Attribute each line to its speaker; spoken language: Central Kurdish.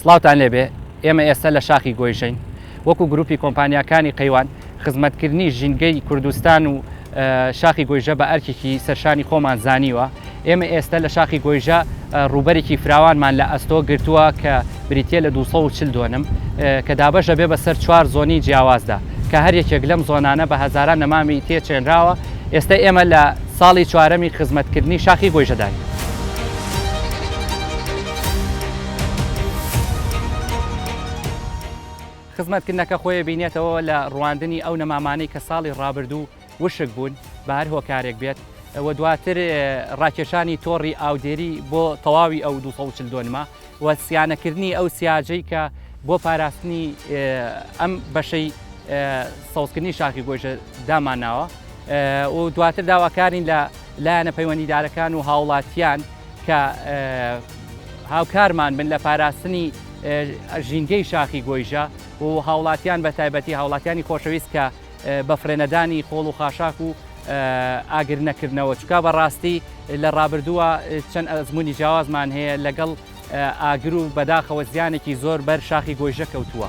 Speaker 1: سڵاوتان لێبێ ئێمە ئێستا لە شاخی گۆیشین وەکو گروپی کۆمپانیاکانی قەیوان خزمەتکردنی ژینگەی کوردستان و شاخی گۆیژە بە ئەرکێکی سەرشانی خۆمان زانیوە ئێمە ئێستە لە شاخی گۆیژە ڕووبەرێکی فراوانمان لە ئەستۆ گرتووە کە بریتە لە 240 دۆنم کە دابەش دەبێ بە سەر چوار زۆنی جیاوازدا کە هەر یەکێک لەم زۆنانە بە هەزاران نەمامی تێ چێنراوە ئێستە ئێمە لە ساڵی چوارەمی خزمەتکردنی شاخی گۆیژەداین. خزمەتکردنەکە خۆی بینێتەوە لە ڕواندنی ئەو نەمامانەی کە ساڵی ڕابردوو، وشک بوون بە هەر هۆکارێک بێت و دواتر ڕاکێشانی تۆڕی ئاودێری بۆ تەواوی ئەو 240 دۆنمە و سیانەکردنی ئەو سیاجەی کە بۆ پاراستنی ئەم بەشەی سەوزکردنی شاخی گۆژە دامانناوە و دواتر داواکارین لە لایەنە پەیوەندیدارەکان و هاوڵاتیان کە هاوکارمان بن لە پاراستنی ژینگەی شاخی گۆیژە و هاوڵاتیان بە تایبەتی هاوڵاتیانی خۆشەویست کە بە فرێنەدانی خۆڵ و خاشاک و ئاگر نەکردنەوە چکا بە ڕاستی لە ڕابردووە چەند ئەزمموی جیاوازمان هەیە لەگەڵ ئاگر و بەداخەوە زیانێکی زۆر بەر شاخی گۆیژە کەوتووە.